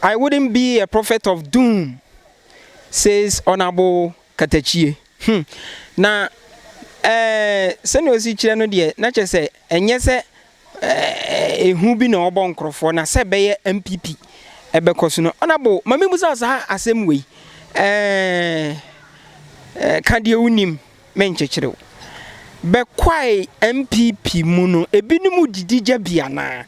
I wouldn't be a prophet of doom says Honourable Katakyie. Hmm. Na eh, sɛnea ɔsi kyerɛ no deɛ, na kyerɛ sɛ ɛnyɛ sɛ eh, ehu bi na ɔbɔ nkorɔfoɔ na sɛ ɛbɛyɛ NPP ɛbɛkɔ so no. Honourable, ma mebusa saa asɛm wei. Eh, eh, ka deɛ wonim. me nkyekyere wo. Bɛ Kwae NPP mu no ebinom didi gya bi anaa?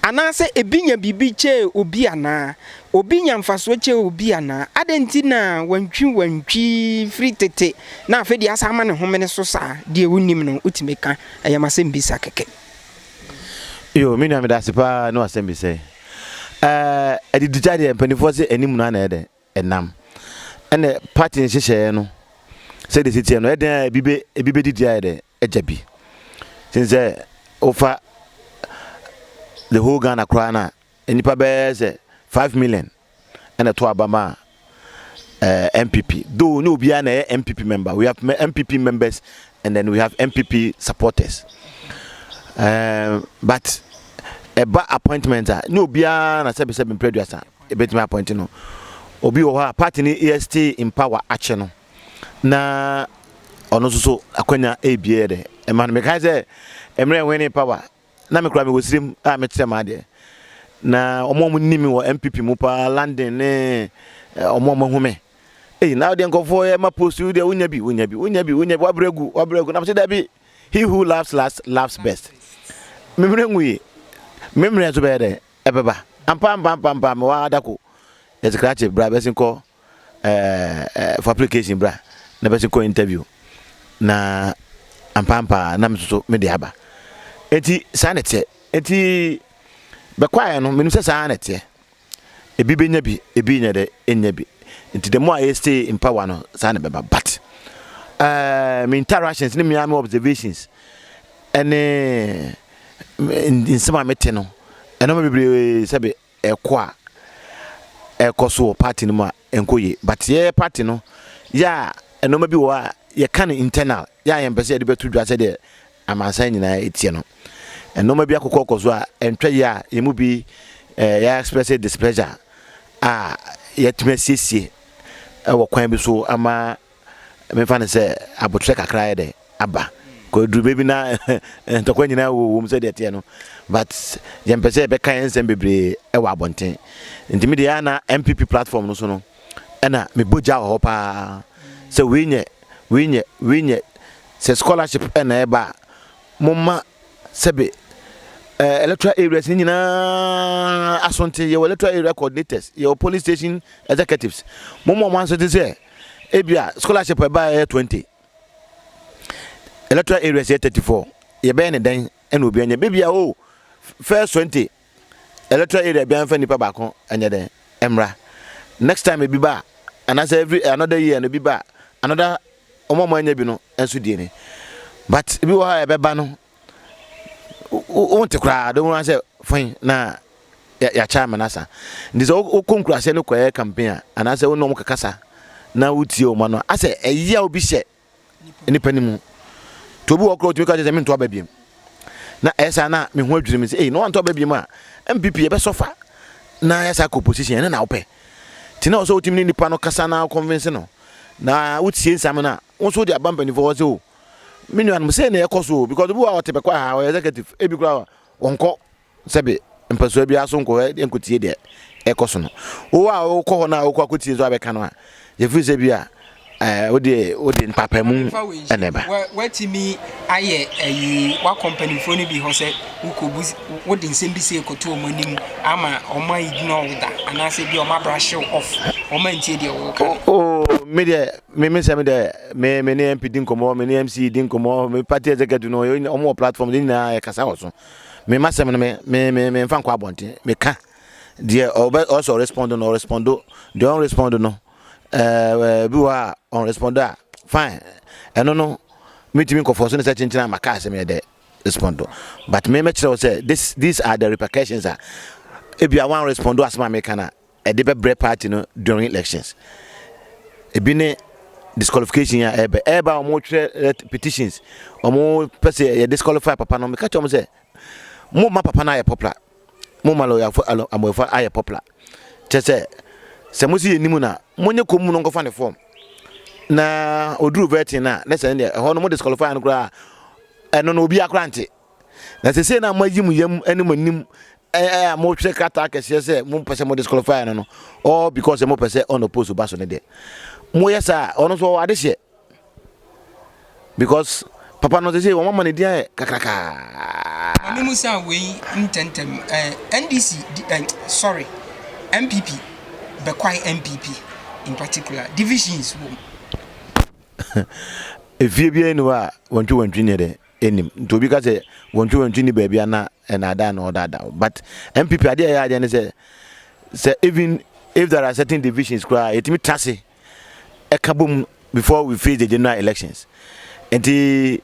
Anaasɛ ebi nya biribi kyɛɛ obi anaa? Obi nya mfasoɔ kyɛɛ obi anaa? Adɛn nti na wantwi wantwi firi tete na afei deɛ asan ama ne homene so saa? Deɛ wonim no wotumi ka. Ɛyɛ m'asɛmbisa kɛkɛ. Yoo me nua medase paa ne w'asɛmbisa yi. Ɛɛ adididya deɛ mpaninfoɔ se anim no a na ɛyɛ dɛ. nam. Ɛnna party nhyehyɛeɛ no sɛdeɛ ɛsi teɛ no, ɛyɛ dɛn a ebi bɛ ebi bɛdidi ayɛ dɛ agya bi. Sen sɛ wofa the whole Ghana koraa no a, nnipa bɛyɛ sɛ five million ɛna ɛto aba ma uh, eh, MPP. Though no obiara na ɛyɛ MPP member. We have MPP members and then we have MPP supporters. Uh, but ɛba appointment a ne obiara na sɛbisɛbi mpɛ aduasa ebetumi apɔinte no. Obi wɔ hɔ a party no yɛ stay in power akyɛ no na ɔno nso so akwanya ebie yɛ dɛ ɛma no. Mekae sɛ mmerɛ wene power na mekura mewɔ sirem a mekyerɛ maa deɛ na ɔmo ɔmo nim wɔ MPP mu paa London ne ɔmo ɔmo ho me. Ei na ɔdeɛ nkɔfoɔ yɛ ma post yi deɛ wonya bi wonya bi wonya bi wonya bi wabrɛ gu wabrɛ gu na mese dabi he who laughs last laughs best. Memmerɛ ngu yi memmerɛ nso bɛyɛ dɛ. ɛbɛba. Ampa ampa ampa ampa mewɔ ha da ko yɛte krakye bra bɛsi kɔ ɛɛ for application bra na bɛsi kɔ interview na ampa ampa na me soso me de aba eti saa na ɛteɛ eti bɛkwaeɛ no menim sɛ saa na ɛteɛ ebi bɛnya bi ebi nyɛ dɛ ɛnya bi nti the more a yɛ stay in power no saa na ɛbɛba but ɛɛ me interactions ne me ame observations ɛne. nsɛm a mete no, nneɛma bebree sɛbe ɛkɔ a ɛkɔ so wɔ party no mu a ɛnkɔ yie but yɛyɛ party no yɛ a nneɛma bi wɔ a yɛka no internal yɛ a yɛmpɛ sɛ yɛde bɛto dwa sɛdeɛ amansan nyinaa ɛteɛ no nneɛma bi akokɔkɔ so a ɛntwa yie a yɛn mu bi ɛɛ yɛ express displeasure a yɛatumi asiesie ɛwɔ kwan bi so ama memfa no sɛ aboterɛ kakra ayɛ dɛ aba kɔ aduru baabi na ntɔkwa nyinaa wɔ wɔm sɛ deɛ teɛ no but yɛn pɛ sɛ yɛbɛka yɛn nsɛm bebree ɛwɔ abɔnten nti mi deɛ ana MPP platform no so no ɛna me bɔ gya wɔ hɔ paa sɛ wei nyɛ wei nyɛ wei nyɛ sɛ scholarship ɛna ɛba a mo ma sɛbe ɛɛ electoral areas ne nyinaa asonten yɛwɔ electoral area coordinators yɛwɔ police station executives mo ma wɔn asonten sɛ ebia scholarship ɛba a ɛyɛ twenty electoral areas yɛ thirty four yɛbɛyɛ ne dɛn ɛna obi anya beebi a o first twenty electoral area bi anfa nipa baako ɛnyɛ dɛn ɛmra next time ebi ba anaasɛ every another year no bi ba another wɔn a wɔn anya bi no nso die ne but ebi wɔ hɔ a ɛbɛba no. wonte koraa de wɔn sɛ fɛn na yɛakyɛ amena asa nti sɛ wokɔ nkuraseɛ no kɔyɛ campaign a anaasɛ wo ne wɔn kakasa na wotie wɔn ano asɛ ɛyi a obi hyɛ nipa no mu nti obi wɔ korɔ otumi ka kyerɛ sɛ mento aba biem na ɛyɛ saa na me ho adwiri me sɛ ei na wantɔ aba biem a mpp yɛbɛsɔfa na yɛ saa kɔ opposition ɛne na wopɛ nti na ɔsɛ wotumi ne nipa no kasa na convince no na wotie nsɛm no a Wo nso wode aba mpanyinfoɔ hɔ sɛ o me nuanom sei na ɛkɔ so o because obi wɔ a ɔte bɛkɔ aha ɔyɛ executive ebi koraa ɔnkɔ sɛbe mpasua biara so nkɔ hɔ nkɔtie deɛ ɛkɔ so no wo a wokɔ hɔ no a wokɔ akɔtie nso abɛka no a yɛfiri sɛ bi a eh, wode wode mpapamu ɛna ɛba watumi ayɛ ayi wakɔ mpanimfoɔ no bi hɔ sɛ wokɔbu wode nsɛm bi sɛ ɛkɔto ɔma anim ama ɔma ignore wo da anaasɛ bi ɔma brahyew off ɔma ntie deɛ wɔka no oh, me deɛ me me nsɛm dɛ me me ne mp di nkɔmɔ me ne mc di nkɔmɔ me party executive no wɔn wɔ platform de nyinaa yɛ kasa wɔ so me ma sɛm no me me me me nfa nkɔ abɔnten me ka deɛ ɔbɛ ɔsɛ ɔrespond no ɔrespond deɛ ɔnrespond no ɛɛ bi wɔ a ɔnrespond a fine ɛno no metumi nkɔfɔ so ne sɛ kyenkyen ama kaa sɛ meyɛ dɛ respond but me mɛkyerɛ wo sɛ this these are the repercussions a ebi a wɔn respond asɛm a meka no a ɛde bɛbrɛ party no during elections ebi ne disqualification a ɛbɛ ɛba wɔn twerɛ petitions wɔn pɛ sɛ yɛ disqualify papa no meka kyerɛ wɔn sɛ mo ma papa no ayɛ popular mo ma lɔyafo amɔyɛfo ayɛ popular kyɛ sɛ sɛ mo si yɛ nimu na mo nye kɔn mu no nkɔfa ne fɔm na oduru vetting na ne sɛ ne deɛ ɛhɔ no mo disqualify no koraa ɛno no obi akora nte. Na sesei no a moayi mo yam ne mo anim a mohwɛ krataa kɛseɛ sɛ mompɛ sɛ mo disqualify no no all because sɛ mopɛ sɛ unopposed ba so no deɛ moyɛ saa a ɔno nso ɔwɔ adehyeɛ because papa no sesei wɔn ama ne din ayɛ kakrakaa. Mene mu sɛ wei ntɛntɛm eh, NDC eh, sorry MPP bɛkwae MPP in particular divisions wom. Efie biara ni hɔ a wɔntwe wɔntwe nyɛ dɛn. nim nti obi ka sɛ wɔntwe wɔntwe ni baabi a na ɛnaadaa na ɔdaadaa wo but npp adeɛ ɛyɛ adeɛ ne sɛ sɛ even if there are certain divisions koraa yɛtumi tra se ɛka bom before we face the general elections nti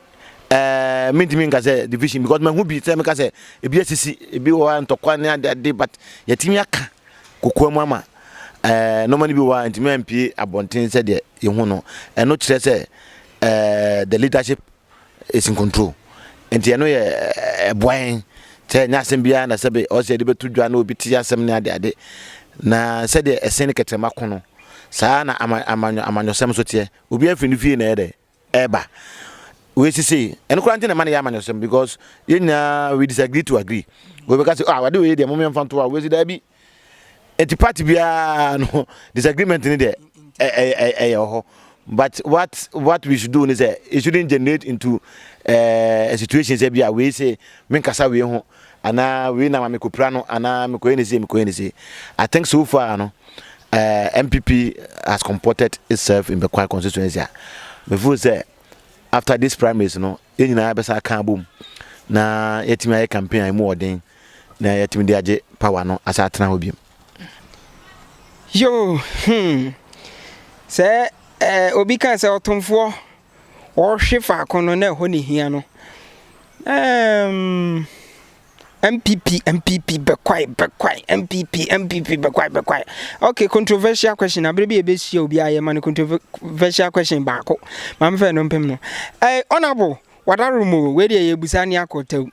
ɛɛ eh, mentumi nka sɛ division because mahu bi sɛ meka sɛ ebi asisi ebi wɔ hɔ ntɔkwa ne ade ade but yɛtumi aka kokoa mu ama ɛɛ eh, nɔɔma no bi wɔ hɔ ntumi ampie abɔnten sɛdeɛ yɛhu no ɛno kyerɛ sɛ ɛɛ eh, the leadership Esi nkontrol. Enti ɛno yɛ ɛboa yɛn sɛ ɛnyɛ asɛm biara na sɛbe ɔsɛ yɛde bɛto dwa na obi te asɛm ne adeade. Na sɛdeɛ ɛsɛn ne kɛtɛma ko no, saa na ama amanyɔ amanyɔsɛm nso teɛ. Obiara firi ne fie na ɛyɛ dɛ ɛreba. Wei sisi ɛno koraa nti na ɛma no yɛ amanyɔsɛm because yɛn nyinaa we disagree to agree. Wei bɛka sɛ ah ade wei deɛ mo mmiɛnfa nto a wei si daabi. nti party biara no disagreement ne deɛ ɛyɛ wɔ hɔ but what what we should do is that it shouldn't generate into uh, a situation say bia we say men kasa we ho ana we na ma me kopra no ana me koye ne say me koye ne say i think so far no uh, eh, mpp has comported itself in the quiet constituency me feel say after this primaries no yɛn nyinaa bɛsa aka abom na yɛatumi ayɛ campaign a ɛmu wɔ den na yɛatumi de agye power no asa atena hɔ biom. yoo hmm sɛ ɛɛ obi kan sɛ ɔtomfoɔ ɔhwe faako no na ɛhɔ ne hia no ɛɛm. NPP NPP bɛkwae bɛkwae NPP NPP bɛkwae bɛkwae okay controversial question abere bi ebe sua obi ayɛ ma no controversial question baako maame fɛ no mpem no eh honorable wadaro mu we de ye busa ni akɔtɛw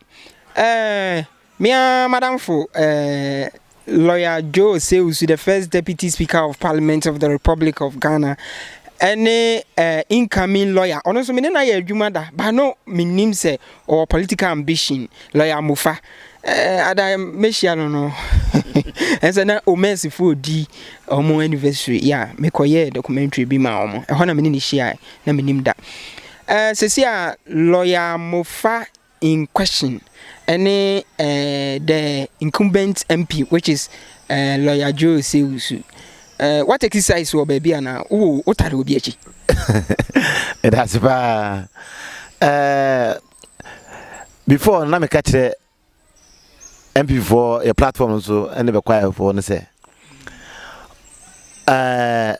eh mia madamfo eh Lawyer Joe Osei-Osu, the first Deputy Speaker of Parliament of the Republic of Ghana, ɛne eh, incoming lawyer. Ɔno nso me ne no ayɛ adwuma da, ba no menim sɛ ɔwɔ political ambition, lawyer Mofa. Eh, ada mehyia no no, ɛsɛ na Omesifo odi ɔmo anniversary, ya yeah, mekɔyɛɛ documentary bi ma ɔmo, ɛhɔ na me ne no hyiae, na menim da. Eh, sɛsi a lawyer Mofa in question ɛne eh, the incumbent MP which is eh, lawyer Joe Sewusu. Eh, what exercise wɔ baabi anaa wo wotare obi akyi? Ɛdase paa. Eh, before na meka kyerɛ MP foɔ yɛ platform nso ɛne bɛ choir foɔ no sɛ eh,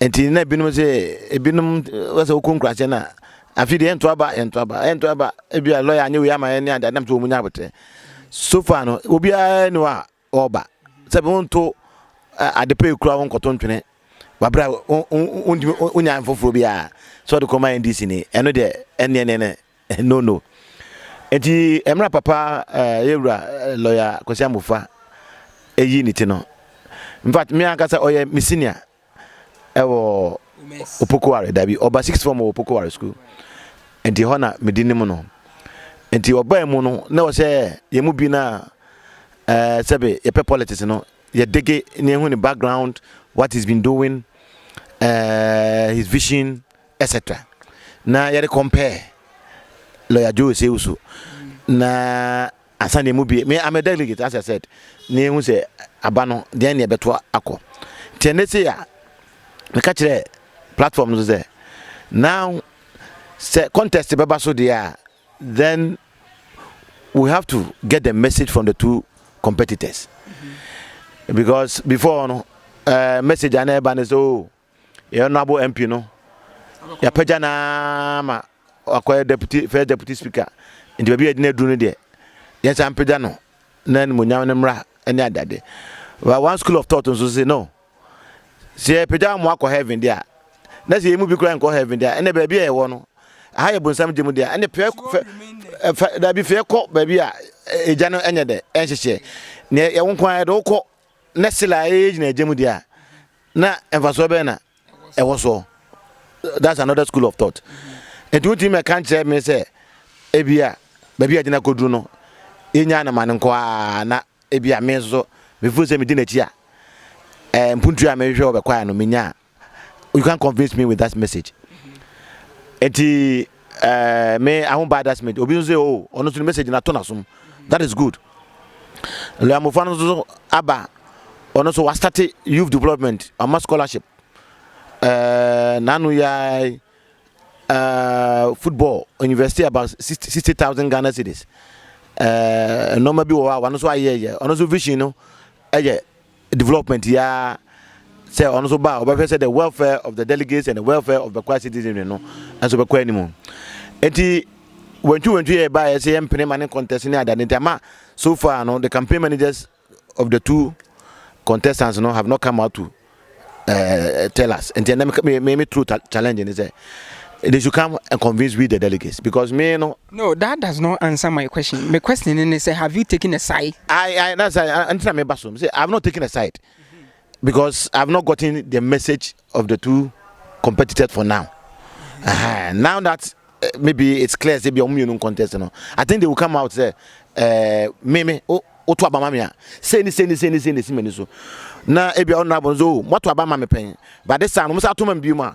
nti na ebinom sɛ ebinom wɔ sɛ wokɔ nkurase no a afi deɛ ɛnto aba ɛnto aba ɛnto aba ebi a lɔya anyɛ wei ama ɛne ade adam sɛ wɔn nyɛ abotire so far no obiara ni hɔ a ɔreba sɛ bi wɔn to ade pɛ ekura wɔn kɔtɔ ntwene wabra wɔn wɔn wɔn nya nfoforɔ biara sɛ ɔde kɔma ndc ni ɛno deɛ ɛne ɛne ne No no. Enti ɛmra papa yɛ wura lɔya Kwasi Amofa ɛyi ne ti no. In fact me ankasa ɔyɛ me senior ɛwɔ Opokuware dabi ɔba six form wɔ Opokuware school. Enti hɔ na me di ne mu no. Enti ɔbaa mu no na ɔsɛ yɛ mu bi na ɛɛ sɛbe yɛpɛ politics no yɛ dege ne ehu ne background what he's been doing uh, his vision Etc. Na yɛde compare lawyer Joe Osei so na ansa na emu bie me I'm a delegate as I said na ehu sɛ aba no deɛn na ɛbɛto akɔ nti ɛnɛ sɛ a meka kyerɛ platform no so sɛ now sɛ contest bɛba so deɛ a then we have to get the message from the two competitors mm -hmm. because before no uh, message a na ɛba no sɛ o oh, Yɛn Honourable MP no, yɛapagya no ara ma wakɔyɛ deputy first deputy speaker. Nti baabi a yɛde no aduru no deɛ, yɛnsan mpagya no na animuonyam no mmra ne adade. But one school of thought nso se no, sɛ yɛpagya wɔn akɔ heaven deɛ a, na sɛ yɛn mu bi koraa nkɔ heaven deɛ a, ɛnna baabi a yɛwɔ no, aha yɛ bonsam gye mu deɛ a, ɛnna fɛ fɛ fɛ daabi fɛ kɔ baabi a egya no nyɛ dɛ ɛnhyehyɛ. Nea yɛwo nko ara yɛde wokɔ. na sila a ɛyɛ gyina agya mu deɛ a na mfasoɔ bɛn na ɛwɔ soɔ that's another school of thought nti wotumi ma ɛka nkyerɛ me sɛ ebi a baabi a gyina kɔduru no yɛnya no ma no nko a na ebi a me nso so mefiri sɛ medi n'akyi a eh, mpuntua a mehwehwɛ wɔ bɛkwae no menyaa you can't convince me with that message eti ɛɛ eh, me i won't buy that message obi nso sɛ oh ɔno nso ne message na to na som that is good lɛamofo no nso aba ɔno nso wastate youth development ɔma scholarship ɛɛ eh, n'ano yɛ ɛɛ eh, football university about sixty sixty thousand ghana cedis ɛɛ nneɛma bi wɔ hɔ a wɔn nso ayɛ yɛ ɔno nso vision no ɛyɛ. development yi ara sɛ ɔno nso ba a ɔbɛhwɛ sɛ the welfare of the delegates and the welfare of Bɛkwa citizenry no nso bɛkɔ anim nti wantwiwantwi yɛ ɛbaeɛ sɛ yɛmpene ma ne contest ne adade nti ama so far no the campaign managers of the two contestants no have not come out to uh, tell us nti ɛnɛ me me me true challenge ne sɛ they should come and convince we the delegates because me no No that does not answer my question, me question no ne sɛ have you taken a side? I I that's I ɛnti na me ba so me sɛ I have not taken a side because I have not gotten the message of the two competitors for now. Uh -huh. Now that uh, maybe it's clear sɛ bi ɔmo mmienu contest no I think they will come out sɛ ɛɛ me me o o to abama mi a sɛ ni sɛ ni sɛ ni sɛ ni si ma ni so na ebi ɔno abɔ nso o mo to abama mi pɛn but this time ɔmo sɛ ato ma mi bi mu a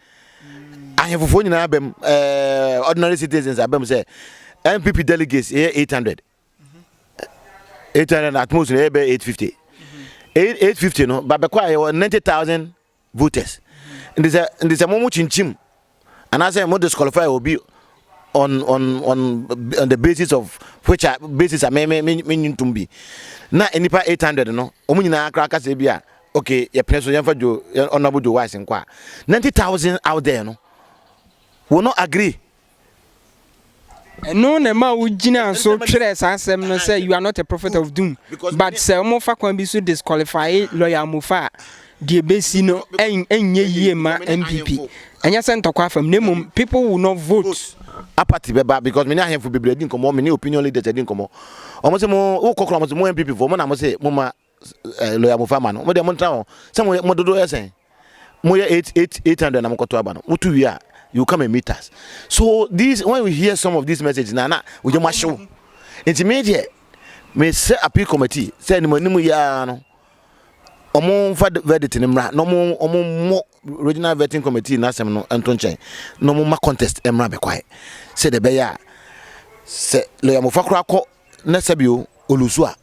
ahemfofoɔ nyinaa abam ɛɛ ordinary citizens abam sɛ npp delegates ɛyɛ eight hundred eight hundred at most ɛyɛ bɛ eight fifty eight fifty no babɛkɔ a yɛwɔ ninety thousand voters nti sɛ nti sɛ mo mo kyinkyim anaasɛ mo disqualify obi on on on on the basis of which a basis a me me me me ntum bi na nipa eight hundred no wɔn nyinaa kora kasa bi a. ok yɛpene so yɛmfa jo honorable joe wise nkɔ a 90000 out there no wo no agree ɛno na ɛma wogyina so twerɛ saa asɛm no sɛ you are not a prophet of doom but sɛ wɔfa kwan bi so disqualify lawyer amofa a deɛ bɛsi no ɛnyɛ yie ma mpp ɛnyɛ sɛ ntɔkwa afam na mmom people will not vote apathy bɛba because mene ahemfo bebree di nkɔmmɔ mene opinion leaders adi nkɔmmɔ ɔmo sɛ mo wokɔkora mo sɛ mo mpp foɔ mo na mo sɛ mo ma ɛɛ lɔya mo fa ma no mo deɛ mo ntena hɔ sɛ mo mo dodo yɛ sɛn mo yɛ eight eight eight hundred na mo kɔto aba no mo to wie a you come and meet us so these when you hear some of these messages na na oye mo ahyew nti me deɛ me sɛ appeal committee sɛ anim anim yɛ ara no wɔn nfa verdict no mmra na wɔn wɔn mo regional vetting committee n'asɛm no nto nkyɛn na wɔn ma contest mmra bɛkwae sɛ de bɛyɛ a sɛ lɔya mofa koraa kɔ na sɛbio olusu a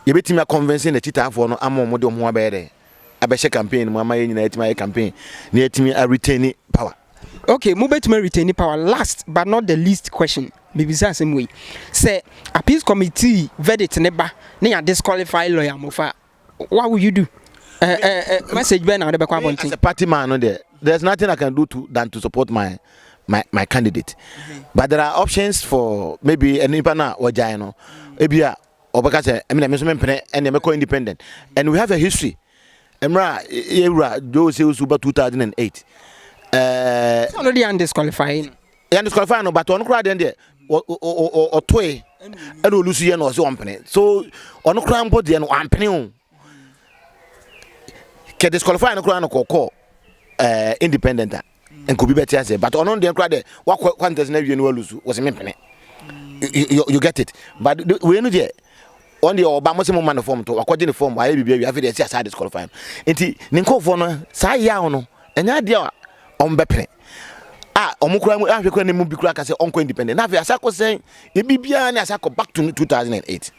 yɛbɛtumi akɔnvɛnsin n'akyitaafoɔ no ama wɔn de wɔn ho abɛyɛ dɛ abɛhyɛ campaign mu ama yɛn nyinaa yɛtumi ayɛ campaign na yɛtumi aretain power. okay mobɛtumi retain power last but not the least question mebisa asɛm wei sɛ appeals committee verdict ne ba ne yɛ disqualify lɔya mofa a. Wa wo you do? Eh, eh, eh, message bɛn na wɔde bɛkɔ abɔnten? As a party man no there, there's nothing I can do to than to support my my my candidate. Mm-hmm. But there are options for maybe nipa na wɔgyae no. Ebi a ɔbɛka sɛ ɛmi na ɛmi nso mi mpene ɛna ɛmi kɔ independent. And we have a history. Ɛmira yɛ wura Joe Sewusu ba 2008. Ɛɛ. Sanu de yan disqualify. yɛn disqualify no but ɔno koraa deɛ deɛ ɔtoe ɛna olu so yɛ na ɔsɛ ɔmpene so ɔno koraa mpo deɛ no ampene o kɛ disqualify no koraa no kɔkɔ ɛɛ independent a nka obi bɛte ase but ɔno deɛ koraa deɛ wakɔ contest na awie no olu so wɔsɛ mempene you, you get it but wei no deɛ ɔn deɛ ɔba mo sɛ mo ma no fɔm to wakɔgye ne fɔm wayɛ biribi awie afei deɛ ɛsi asa disqualify no nti ne nkɔfoɔ no saa yaw no ɛnyɛ adeɛ a ɔmbɛpene a wɔn kura mu ahwɛ kura ne mu bi kura kasa ɔnkɔ independent n'afɛ asa kɔ sɛn ebi biara ne asa kɔ back to 2008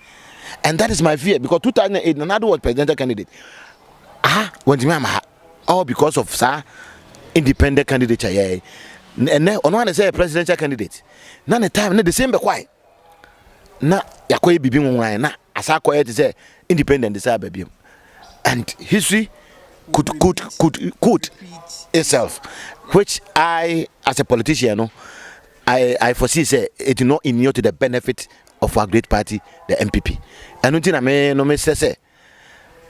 and that is my fear because 2008 nana do was presidential candidate aha wɔn ti mi ama ha all because of saa independent candidate yɛ ɛnɛ ɔno ana sɛ presidential candidate na ne time ne the same bɛ kwae. na yɛakɔyɛ biribi nwonwan na asa akɔyɛ te sɛ independent sɛ aba biom and history could could could could itself which i as a politician no i i foresee sɛ it no inure to the benefit of our great party the npp ɛno nti na me no mesrɛ sɛ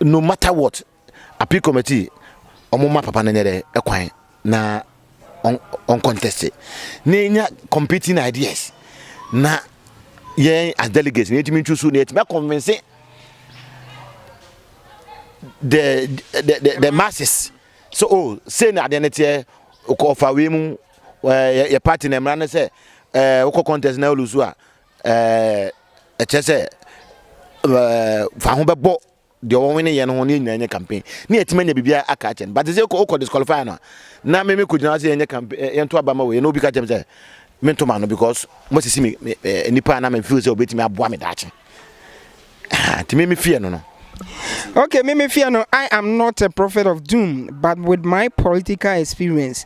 no matter what Appeal committee ɔmo ma papa no nyɛ dɛ ɛkwan na ɔn ɔn contest na enya competing ideas na yɛn as delegates na yɛtumi ntusu na yɛtumi akɔnvinse the the the the masses so oh say na adeɛ no teɛ kɔ ɔfa wei mu ɛɛ yɛ party na mmara no sɛ ɛɛ wokɔ contest na olusu a ɛɛ ɛkyɛ sɛ ɛɛ fa ho bɛbɔ. deɛ wɔn wene yɛ no ho ne yɛn nyinaa nyɛ campaign ne yɛtumi anya biribiara aka akyɛ no but sɛ wokɔ disqualify no a na meme kɔgyina sɛ yɛnyɛ campaign eh, yɛnto aba ma wei na obi ka kyɛm sɛ mento ma no because moasisi me eh, nnipa na mefeel sɛ wobɛtumi aboa me daakye nti meme feɛ no no Okay, Mimi Fiano, I am not a prophet of doom, but with my political experience,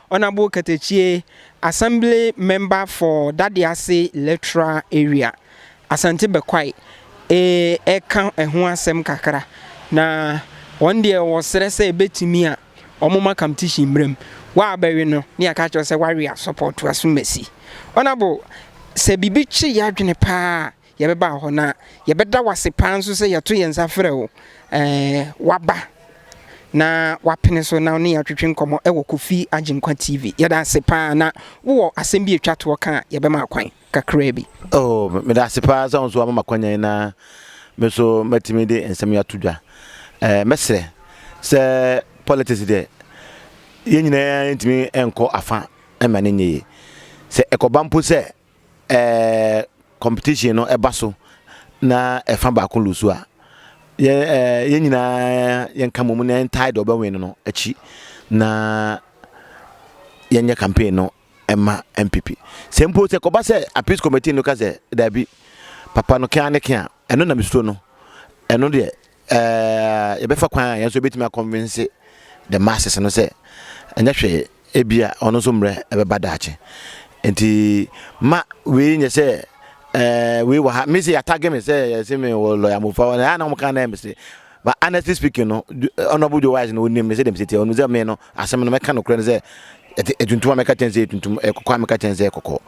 Honourable Katakyie Assembly Member for Dadease Electoral Area, Asante Bekwai reka ho asɛm kakra. Na wɔn deɛ wɔsrɛ sɛ ɛbɛtumi a wɔmma kamtishi mmra mu. Wo a bɛwe no ne yɛaka akyerɛ wo sɛ woawe a sɔpɔɔto Asumasi. Honourable, sɛ biribi kye yɛn adwene pa ara a, Yɛbɛba hɔ na yɛbɛda wo ase paa nso sɛ yɛto yɛn nsa frɛ wo w'aba na w'apene so na wo ne yɛn atwetwe nkɔmmɔ wɔ Kofi Agyenkwa TV. Yɛda ase paa na wo wɔ asɛm bi etwa toɔ ka a yɛbɛma akwan kakraa bi. Oh meda ase paa sɛ wo nso w'ama ma kwanya yi na me nso m'atumi de nsɛm yi ato dwa. Eh mɛsrɛ sɛ politics deɛ yɛn nyinaa ntumi nkɔ afa ɛma ne nyɛ yie. Sɛ ɛkɔba mpo sɛ ɛɛ competition no ɛba so na ɛfa baako lusu a yɛ ɛɛ yɛn nyinaa yɛn ka mu na yɛn tae deɛ ɔbɛwin no no akyi na yɛn nyɛ campaign no ɛma npp sɛ mpo sɛ kɔba sɛ appeals committee no ka sɛ daabi papa no kɛn ne kɛn a ɛno na mesuro no ɛno deɛ Ɛɛ, yɛbɛfa kwan a yɛn nso yɛbɛtumi akɔnvense the masses no sɛ ɛnyɛ hwee, ebia ɔno nso mmerɛ ɛbɛba daakye. Nti ma wei nyɛ sɛ ɛɛ wei wɔ ha, me sɛ yɛatagge me sɛ yɛse me wɔ lɔya mofa hɔ, na ɛyɛ na wɔka na ɛyɛ me se. But honestly speaking no, Honourable Joe Wise no ɔnim me sɛdeɛ me sɛ teɛ, ɔnim sɛ me no asɛm no mɛka nokorɛ no sɛ ɛtuntum a mɛka kyɛn sɛ ɛtuntum, ɛkɔkɔɔ a mɛka kyɛn sɛ ɛkɔkɔɔ.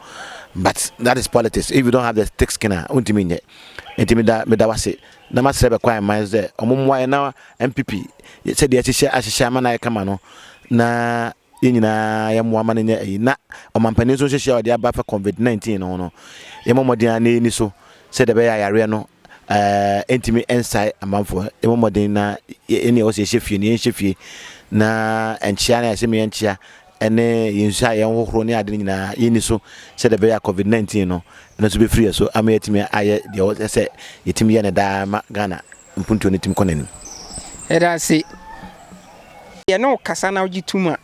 But that is politics, if you don't have the thick skin a wontumi nyɛ. Nti meda meda wase na masrɛ bɛ kwan mma nso dɛ wɔmmoa yɛn na NPP sɛdeɛ yɛahyehyɛ ahyehyɛ ama no ayɛ kama no na yɛn nyinaa yɛmmoa ma no nyɛ ayi na ɔmampanin nso nhyehyɛ a ɔde aba fa covid 19 no ho no yɛmmɔ mmɔden ara na yɛnni so sɛdeɛ ɛbɛyɛ a yareɛ no ɛɛ ntumi nsae amanfoɔ yɛmmɔ mmɔden na yɛn deɛ ɛwɔ sɛ yɛhyɛ fie no yɛnhyɛ fie na nkyea no a yɛsɛ me yɛnkyea ɛne yɛn nsuo a yɛhohoro ne ade no nyinaa yɛnni so sɛdeɛ ɛbɛyɛ a covid 19 no ɛno nso bɛfiri yɛ so ama yɛatumi ayɛ deɛ ɔsɛ sɛ yɛtumi yɛ no daa ma Ghana mpuntuo no tumi kɔ n'anim. Yɛda ase. Yɛne wo kasa na wogye tom a,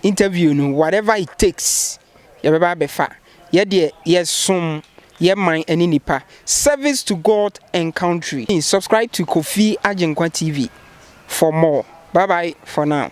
interview no whatever it takes yɛbɛba abɛfa. Yɛ deɛ yɛsom yɛ man ne nipa, service to God and country. Subscribe to Kofi Agyenkwa TV for more. Bye bye for now.